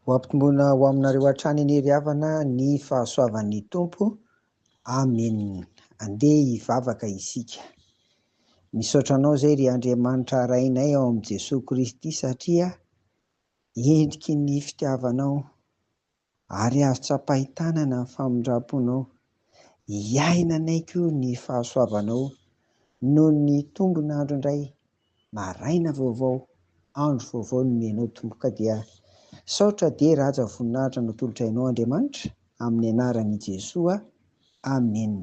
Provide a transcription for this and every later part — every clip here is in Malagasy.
Ho ampitomboina ho aminareo hatrany anie ry havana ny fahasoavan'ny Tompo. Amen. Andeha hivavaka isika. Misaotra anao izay ry Andriamanitra Rainay ao amin'i Jesoa Kristy satria endriky ny fitiavanao Ary azo tsapain-tanana ny famindram-ponao. Hiaina anay koa ny fahasoavanao noho ny tombon'andro indray, maraina vaovao, andro vaovao nomenao Tompoka dia Misaotra dia Ràja voninahitra no tolotrainao Andriamanitra amin'ny anaran'i Jesoa Amen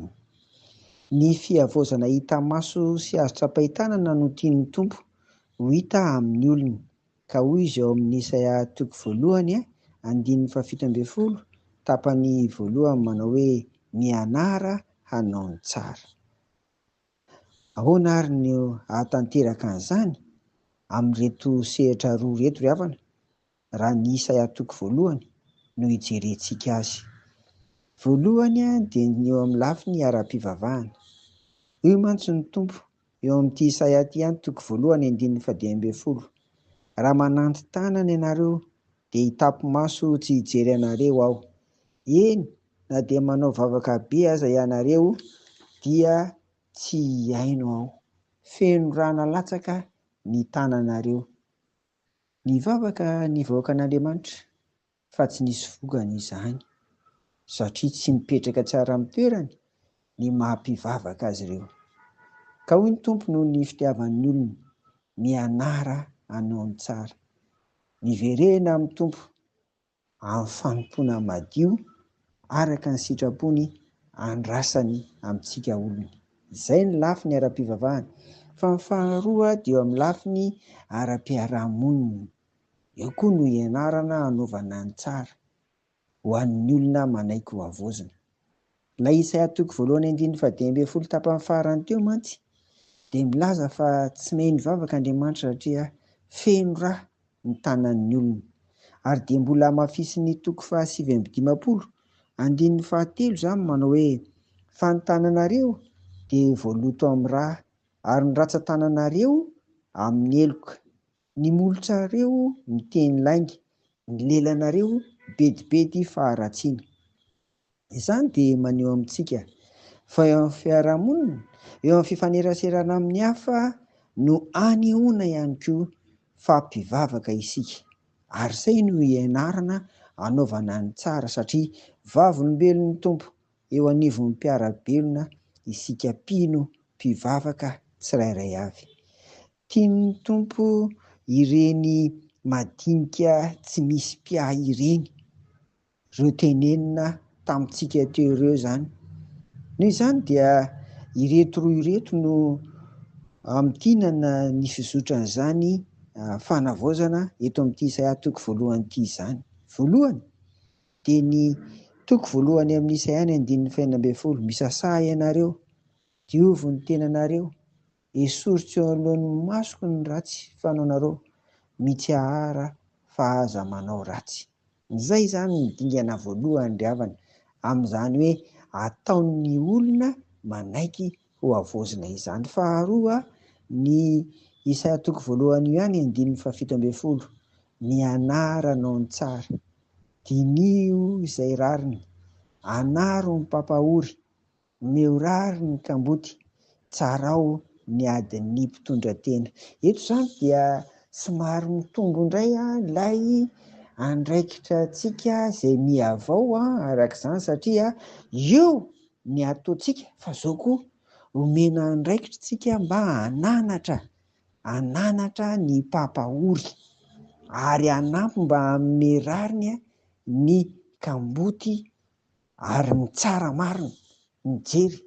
Ny fihavaozana hita maso sy azo tsapain-tanana no tian'ny Tompo ho hita amin'ny olona Ka hoy izy ao amin'ny Isaia toko voalohany andininy fahafito ambin'ny folo tapany voalohany manao hoe mianara hanao ny tsara. Ahoana ary no hahatanteraka an'izany amin'ireto sehatra roa ireto ry havana raha ny Isaia toko voalohany no ijerentsika azy? Voalohany dia ny eo amin'ny lafiny ara-pivavahana. Hoy mantsy ny Tompo, Eo amin'ity Isaia ity ihany, toko voalohany, andininy fahadimy ambin'ny folo, Raha mananti-tanana ianareo, dia hitapi-maso tsy hijery anareo Aho. Eny, na dia manao vavaka be aza ianareo, dia tsy hihaino Aho. Feno ra nalatsaka ny tananareo. Nivavaka ny vahoakan'Andriamanitra. fa tsy nisy vokany izany, satria tsy mipetraka tsara amin'ny toerany ny maha-mpivavaka azy ireo. Ka hoy ny Tompo noho ny fitiavan'ny olona, Mianara hanao ny tsara. Miverena amin'ny Tompo amin'ny fanompoana madio araka ny sitrapony andrasany amintsika olony. Izay ny lafiny ara-pivavahana. Fa ny faharoa dia eo amin'ny lafiny ara-piarahamonina. Eo koa no ianarana hanaovana ny tsara ho an'ny olona manaiky ho havaozina. Ilay Isaia toko voalohany andininy fahadimy ambin'ny folo tapany farany teo mantsy dia milaza fa tsy miheno vavaka Andriamanitra satria feno rà ny tanan'ny olona. Ary dia mbola hamafisin'ny toko fahasivy amby dimampolo andininy fahatelo izany manao hoe, Fa ny tananareo dia voaloto amin'ny rà, ary ny ratsan-tananareo amin'ny heloka. Ny molotrareo miteny lainga, ny lelanareo bedibedy faharatsiana. Izany dia maneho amintsika fa eo amin'ny fiarahamonina, eo amin'ny fifaneraserana amin'ny hafa no anehoana ihany koa fa mpivavaka isika. Ary izay no ianarana anaovana ny tsara satria vavolombelon'ny Tompo eo anivon'ny mpiara-belona isika mpino mpivavaka tsirairay avy. Tian'ny Tompo ireny madinika tsy misy mpiahy ireny, ireo tenenina tamintsika teo ireo izany. Noho izany dia ireto roa ireto no hamintinana ny fizotran'izany fanavaozana eto amin'ity Isaia toko voalohany ity izany. Voalohany dia ny toko voalohany amin'ny Isaia ny andininy fahenina ambin'ny folo, Misasaha ianareo, diovy ny tenanareo, Esoriko eo anoloan'ny masoko ny ratsy fanaonareo, mitsahara fa aza manao ratsy. Izay izany no dingana voalohany ry havana, amin'izany hoe ataon'ny olona manaiky hohavaozina izany. Faharoa, ny Isaia toko voalohany io ihany andininy fahafito ambin'ny folo, Ny anaranao no tsara, diniho izay rariny, anaro ny mpampahory, Omeo rariny ny kamboty, tsarao ny adin'ny mpitondra tena. Eto izany dia somary mitombo indray ilay andraikitra antsika izay mihavao araka izany satria eo ny ataontsika fa izao koa omena andraikitra isika mba hananatra, hananatra ny mpampahory ary hanampy mba hanome rariny ny kamboty Ary ny tsara marina mijery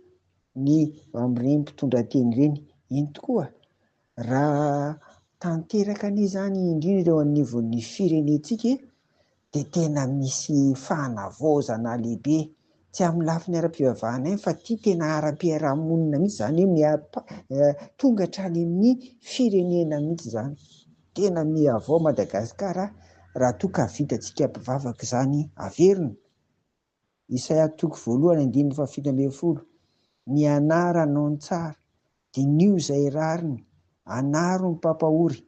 ny amin'ireny mpitondra teny ireny iny tokoa raha tanteraka anie izany indrindra eo anivon'ny firenentsika dia tena misy fanavaozana lehibe tsy amin'ny lafiny ara-pivavahana ihany fa ity tena ara-piarahamonina mihitsy izany hoe tonga hatrany amin'ny firenena mihitsy izany. Tena mihavao Madagasikara raha toa ka vitantsika mpivavaka izany averina. Isaia toko voalohany andininy fahafito ambin'ny folo, Ny anaranao no tsara, diniho izay rariny, anaro ny mpampahory,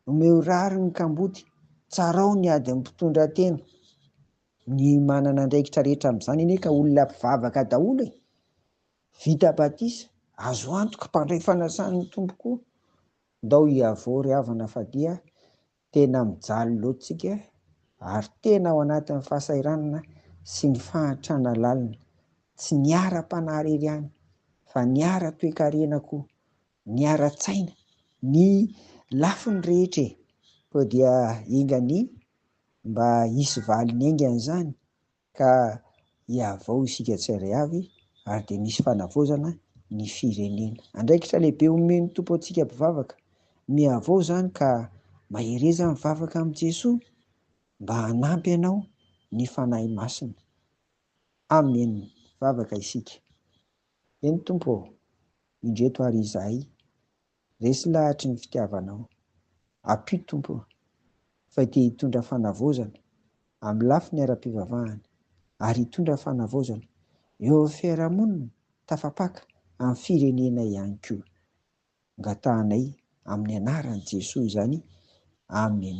omeo rariny ny kamboty, tsarao ny adin'ny mpitondra tena. Ny manana andraikitra rehetra amin'izany anie ka olona mpivavaka daholo e! Vita batisa, azo antoka mpandray fanasan'ny Tompo koa. Ndao hiavory havana fa dia Tena mijaly loatra tsika ary tena ao anatin'ny fahasahiranana sy ny fahantrana lalina, tsy ny ara-panahariry ihany fa ny ara-toekarena koa, ny ara-tsaina, ny lafiny rehetra e! Koa dia enga anie mba hisy valiny enga izany Ka hihavao isika tsirairay avy ary dia misy fanavaozana ny firenena. Andraikitra lehibe omen'ny Tompo antsika mpivavaka. Mihavao izany ka mahereza mivavaka amin'i Jesoa mba hanampy anao ny Fanahy Masina. Amen! Vavaka isika. Eny Tompo ô! Indreto ary izahay. Resy lahatry ny fitiavanao. Apio Tompo o. Fay te hitondra fanavaozana amin'ny lafiny ara-pivavahana ary hitondra fanavaozana eo amin'ny fiarahamonina tafapaka amin'ny firenena ihany koa. Angatahanay amin'ny anaran'i Jesoa izany. Amen.